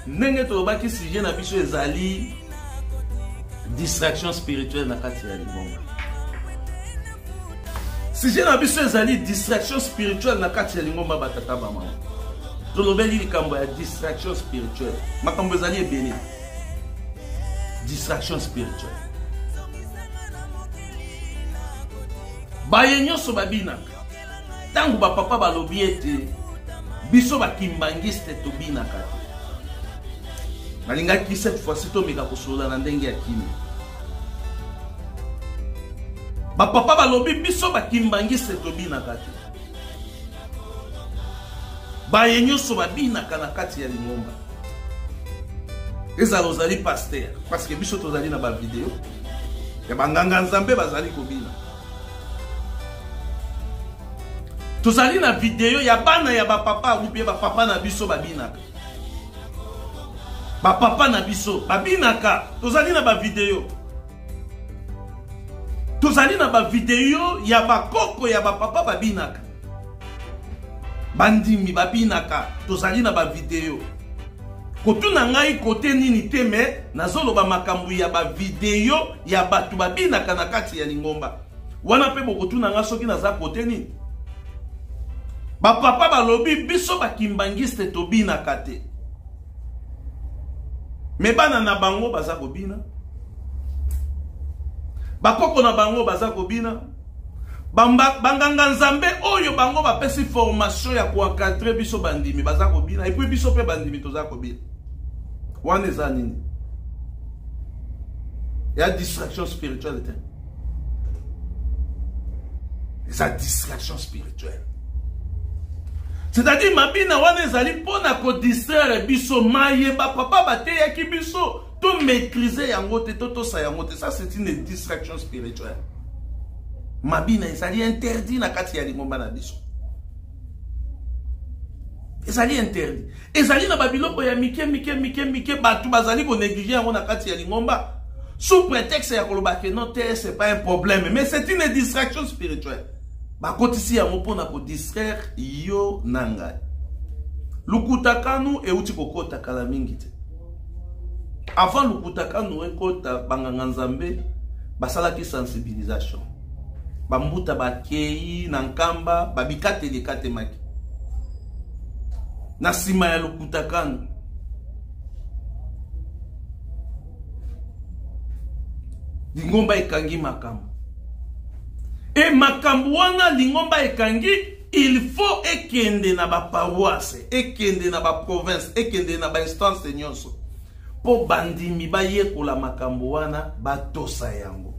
ndenge tolobaki sujet na biso ezali distraction spirituelle na kati ya libonga sujet na biso ezali distraction spirituelle na kati ya lingomba batata bamama tolobeli likambo ya distraction spirituelle makambo ezali ebele distraction spirituelle baye nyonso babinaka ntango bapapa balobi ete biso bakimbangiste tobinaka te nalingaki cette fois-ci tomeka kosolola na ndenge ya kimia bapapa balobi biso bakimbangiste tobinaka te baye nyonso babinaka na kati ya lingomba ezala ozali paster parceke biso tozali na bavideo ya banganga nzambe bazali kobina tozali na video ya bana ya bapapa ubie bapapa na biso babinaka bapapa na biso babinaka tozali na bavideo tozali na bavideo ya bakoko ya bapapa babinaka bandimi babinaka tozali na bavideo kotuna ngai kote nini te me nazoloba makambo ya bavideo ya bato babinaka na kati ya lingomba wana mpe bokotuna nga soki naza kote nini bapapa balobi biso bakimbangiste tobinaka te me bana na bango baza kobina bakoko na bango baza kobina banganga nzambe oyo bango bapesi formation ya koencadre biso bandimi baza kobina epui biso mpe bandimi toza kobina wana eza nini ya distraction spirituelle te eza distraction spirituelle c'est-à-dire mabina wana ezali mpo na kodistraire biso maye bapapa bateyaki biso to maîtriser yango te to tosa yango te ça c'est une distraction spirituelle mabina ezali interdit na kati ya lingomba na biso ezali interdit ezali na babiloko ya mike mike mike mike bato bazali konéglige yango na kati ya lingomba sous prétexte ya koloba ke non te c'est pas un problème mais c'est une distraction spirituelle bakotisi yango mpo na kodistraire yo na ngai lukutakanu euti kokota kala mingi te avant lukutakanu ekota banganga nzambe basalaki sensibilisation bambuta bakei na nkamba babikateli ekatemaki na nsima ya lokuta kani lingomba ekangi makambo e makambo wana lingomba ekangi il faut ekende na baparoise ekende na baprovince ekende na bainstance nyonso mpo bandimi bayekola makambo wana batosa yango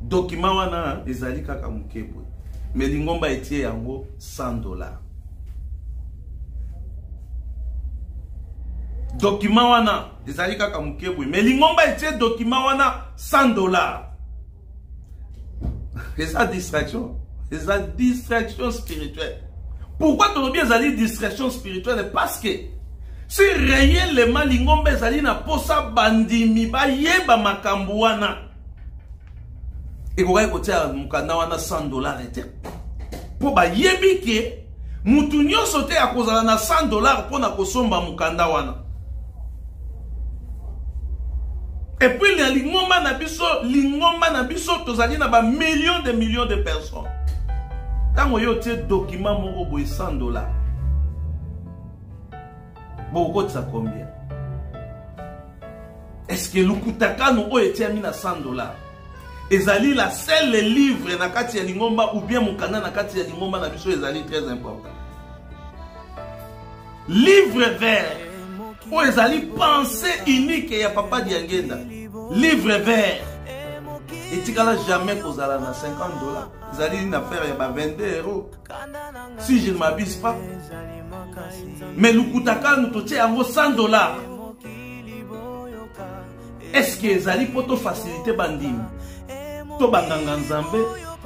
dokima wana ezali kaka moke boye me lingomba etie yango 100 dollar dokima wana ezali kaka moke boye me lingomba etie dokima wana 100 dollar eza distraction eza distraction spirituelle pourquoi tolobi ezali distraction spirituelle parce que si réellement lingomba ezali na mposa bandimi bayeba makambo wana ekokaki kotia mokanda wana 100 dollar te mpo bayebi ke Mutu nyoso te akozala na 100 dollars pona kosomba mukanda wana. Et puis na lingomba na biso, lingomba na biso tozali na ba millions de millions de personnes. Tango yo tie document moko boye 100 dollars. Bokotisa combien? Est-ce que lukutakano oyo etiami na 100 dollars? ezali la seule livre na kati ya lingomba ou bien mokanda na kati ya lingomba na biso ezali très important livre vert oyo ezali pensée unique ya papa diangenda livre vert etikala jamais kozala na 50 dollars ezali na faire ya ba 22 euros si je ne m'abuse pas mais lukuta kanu totie yango 100 dollars eske ezali mpo tofasilite bandimi to banganga nzambe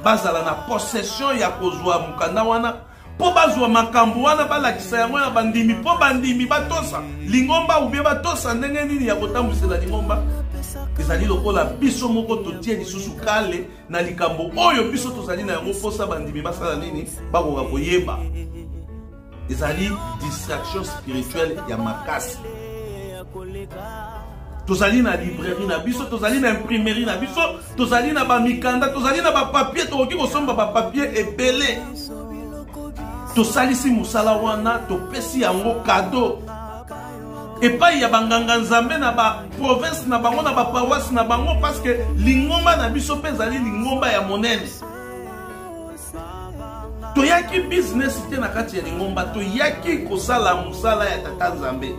bazala na possession ya kozwa mokanda wana mpo bazwa makambo wana balakisa yango na bandimi mpo bandimi batosa lingomba ubie batosa ndenge nini ya kotambwisela lingomba ezali lokola biso moko totie lisusu kale na likambo oyo biso tozali na yango mposa bandimi basala nini bakoka koyeba ezali distraction spirituelle ya makasi tozali na librairie na biso tozali na imprimerie na biso tozali na bamikanda tozali na bapapier tokoki kosomba bapapier ebele tosalisi mosala wana topesi yango kado epai ya banganga nzambe na baprovince na bango na bapawasi na bango parceke lingomba na biso mpe ezali lingomba ya monene toyaki business te na kati ya lingomba toyaki kosala mosala ya tata nzambe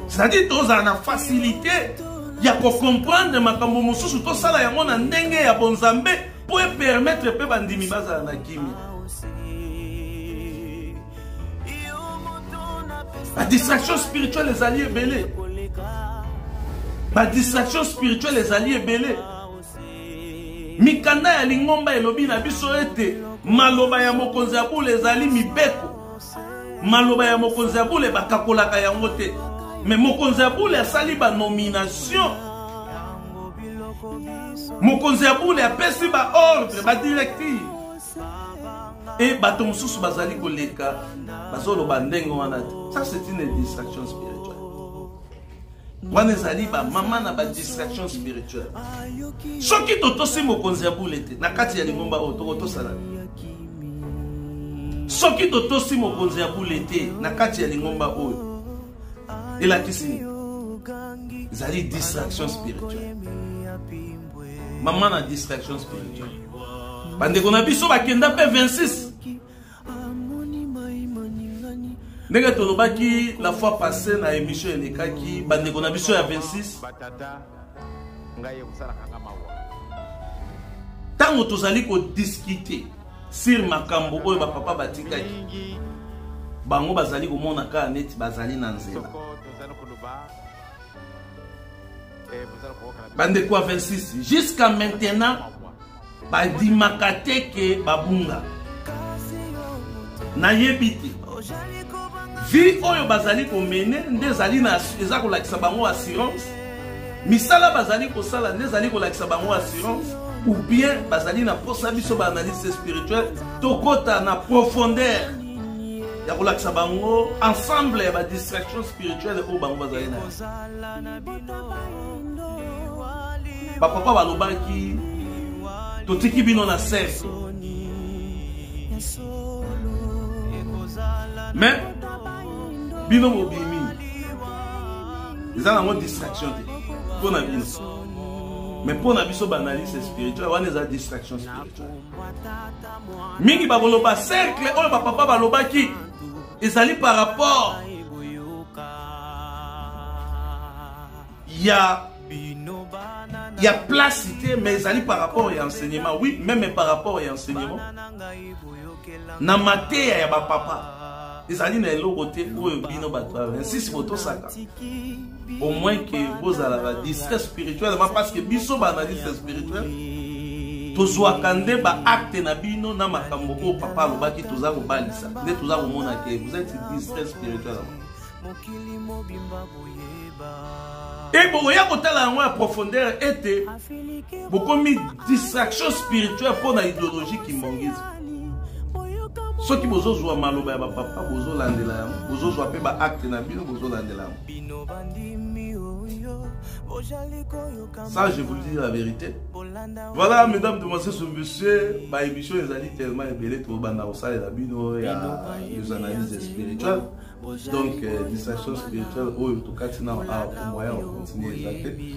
c'est-à-dire tozala na facilité ya kocomprendre makambo mosusu tosala yango na ndenge ya bonzambe mpo epermettre mpe bandimi bazala na kimia badistraction spirituelle ezali ebele badistraction spirituelle ezali ebele mikanda ya lingomba elobi na biso ete maloba ya mokonzi ya bule ezali mibeko maloba ya mokonzi ya bule bakakolaka yango te me mokonzi ya bule asali banomination mokonzi ya bule apesi baordre badirective e bato mosusu bazali koleka bazoloba ndenge wana te ça c'est une distraction spirituelle wana ezali bamama na badistraction spirituelle soki totosi mokonzi ya bule te na kati ya lingomba oyo tokotosala soki totosi mokonzi ya bule te na kati ya lingomba oyo elakisi nini ezali distraction spirituelle mama na distraction spirituelle bandeko na biso bakenda mpe 26 ndenge tolobaki la fois passé na émission elekaki bandeko na biso ya 26 ntango tozali kodiskite sur makambo oyo bapapa batikaki bango bazali komona kaka neti bazali na nzela bandeko ya 26 jusqu'à maintenant badimaka te ke babunga nayebi te vie oyo bazali komene nde ezali na eza kolakisa bango assurance misala bazali kosala nde ezali kolakisa bango assurance ou bien bazali na mposa biso baanalyste spirituel tokɔta na profondeur ya kolakisa bango ensemble ya badistraction spirituelle oyo bango bazali na bapapa balobaki totiki bino na sese me bino bobimi eza nango distraction te mpo na bino mais mpo na biso baanalyse spirituel wana eza distraction spirituel mingi bakoloba cercle oyo bapapa balobaki ezali par rapport ya ya place te mais ezali par rapport ya enseignement oui meme par rapport ya enseignement na mateya ya bapapa ezali na eloko te oyo bino bato ya 26 botosaka au moins que bozalaka distrait spirituellement parce que biso baanalyste spirituel tozwaka nde baacte na bino na makambo oyo papa alobaki toza kobalisa nde toza komona ke vous êtes distrait spirituellement e bokoya kotala yango ya profondeur ete bokomi distraction spirituelle mpo na idéologie kimongisme soki bozozwa maloba ya bapapa bozolandela yango bozozwa mpe baacte na bino bozolandela yango bino bandimi oyo bojali koyoka ça je vous le dis la vérité voilà mesdames demoiselles ou monsieur ba émission ezali tellement ebele tobanda kosalela bino ya les analyses spirituelles donc euh, distraction spirituelle oyo tokati nao awa moyen okontinue eza te